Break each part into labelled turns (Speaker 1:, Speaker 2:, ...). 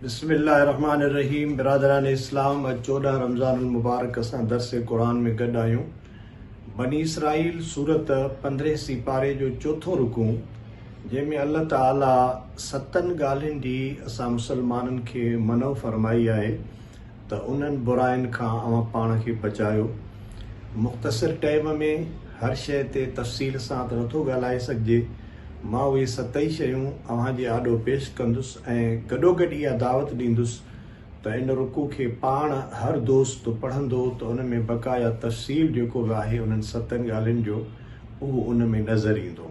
Speaker 1: بسم الله الرحمٰن الرحيم برادران اسلام اڄ چوڏهن رمضان المبارڪ اسان درس قرآن ۾ گڏ آهيون بني اسرائيل سورت پندرهين سي پاري جو چوٿون رڪو جنهن ۾ الله تعالي ستن ڳالهين جي اسان مسلمانن کي منع فرمائي آهي ته انهن براين کان اوهان پاڻ کي بچايو. مختصر ٽئيم ۾ هر شيء تي تفصيل سان ته نٿو ڳالهائي سگهجي. مان اهي ستئي شيون اوهان جي آڏو پيش ڪندس ۽ گڏوگڏ اها دعوت ڏيندس ته ان رقو کي پاڻ هر دوست پڙهندو ته ان ۾ بقايا تفصيل جيڪو به آهي انهن ستن ڳالهين جو اهو ان ۾ نظر ايندو.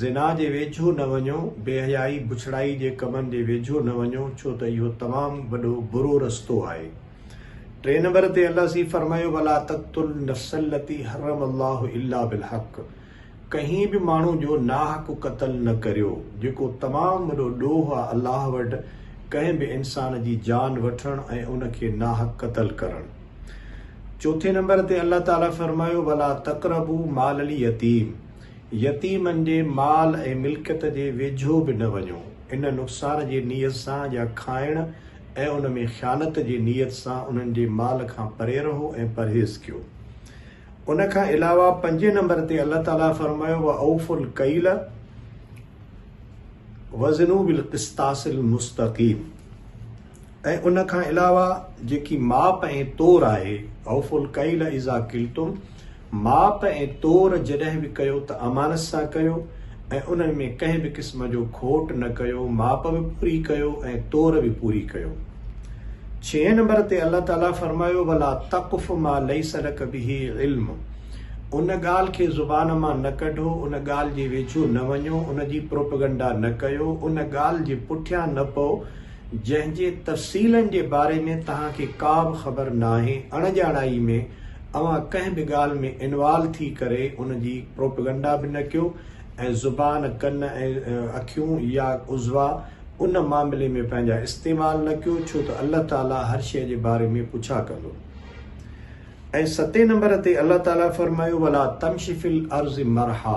Speaker 1: زنا جي ويجهو نه وڃو، بي حيائي بڇڙائي جي ڪمن جي ويجهو نه وڃو ڇو ته اهو تمام وڏو برو رستو آهي. ٽئين نمبر تي الله سين فرمايو ولا تقتلوا النفس التي حرم الله الا بالحق ڪنهن به ماڻهو جو ناحق قتل نه ڪريو جيڪو تمام وڏو ڏوهه آهي الله وٽ ڪنهن به انسان جي جان وٺڻ ۽ ان کي ناحق قتل ڪرڻ. چوٿين نمبر تي الله تعالي فرمايو ولا تقربوا مال اليتيم. يتيمن جي مال ۽ ملڪيت جي ويجهو به نه وڃو، ان نقصان جي نيت سان يا کائڻ ۽ ان ۾ خيانت جي نيت سان انهن جي مال کان پري رهو ۽ پرهيز ڪيو. ان کان علاوه پنجين نمبر تي الله تعالي فرمايو واوفوا الڪيل وزنوا بالقسطاس المستقيم. ۽ ان کان علاوه جيڪي ماپ ۽ تور آهي، اوفوا الڪيل اذا ڪلتم، ماپ ۽ تور جڏهن به ڪيو ته امانت سان ڪيو ۽ انهن ۾ ڪنهن به قسم جو کوٽ نه ڪيو، ماپ به پوري ڪيو ۽ تور به پوري ڪيو. ڇهين نمبر تي الله تعالي فرمايو، ولا تقف ما ليس لک به علم، ان ڳالهه کي زبان مان نه ڪڍو، ان ڳالهه جي ويجهو نه وڃو، ان جي پروپيگنڊا نه ڪيو، ان ڳالهه جي پٺيان نه پئو، جنهن جي تفصيلن جي باري ۾ توهان کي ڪا به خبر ناهي، اڻڄاڻائي ۾ اوهان ڪنهن به ڳالهه ۾ انوالو ٿي ڪري ان جي پروپيگنڊا به نه ڪيو ۽ زبان، ڪن ۽ اکيون يا عضوا ان معاملي ۾ پنهنجا استعمال نه ڪيو ڇو ته الله تعاليٰ هر شيء جي باري ۾ پڇا ڪندو. ۽ ستين نمبر تي الله تعاليٰ فرمايو، ولا تمش في الارض مرحا.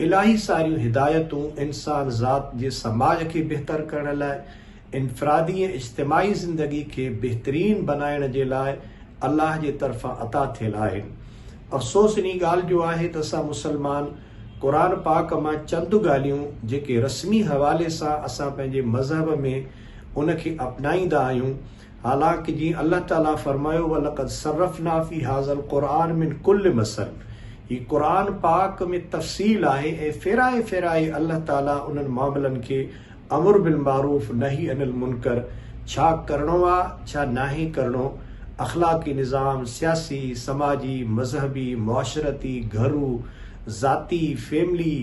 Speaker 1: الاهي ساريون هدايتون انسان ذات جي سماج کي بهتر ڪرڻ لاء، انفرادي ۽ اجتماعي زندگي کي بهترين بنائڻ جي لاء الله جي طرفان عطا ٿيل آهن. افسوس انهي ڳالهه جو آهي ته اسان مسلمان قرآن پاڪ مان چند ڳالهيون جيڪي رسمي حوالي سان اسان پنهنجي مذهب ۾ ان کي اپنائيندا آهيون، حالانڪ جيئن الله تعاليٰ فرمايو ولقد صرفنا في هذا القرآن من ڪل مثل هي قرآن پاڪ ۾ تفصيل آهي ۽ ڦيرائي ڦيرائي الله تعاليٰ انهن معاملن کي امر بالمعروف نهي عن المنڪر ڇا ڪرڻو آ ڇا ناهي ڪرڻو اخلاقي نظام سياسي سماجي مذهبي معاشرتي گهرو ذاتي فيملي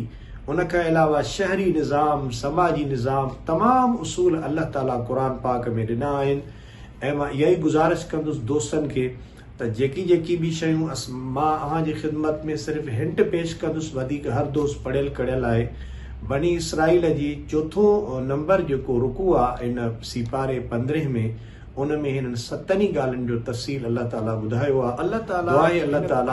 Speaker 1: ان کان علاوه شهري نظام، سماجي نظام تمام اصول الله تعاليٰ قرآن پاڪ ۾ ڏنا آهن ۽ مان اها ئي گذارش ڪندس دوستن کي ته جيڪي جيڪي به شيون اس مان اوهان جي خدمت ۾ صرف هنٽ پيش ڪندس وڌيڪ هر دوست پڙهيل ڪڙهيل آهي بني اسرائيل جي چوٿون نمبر جيڪو رڪوع آ ان سيپاري پندرهين ۾ ان ۾ هنن ستن ئي ڳالهين جو تفصيل الله تعاليٰ ٻڌايو آ دعا آهي الله تعاليٰ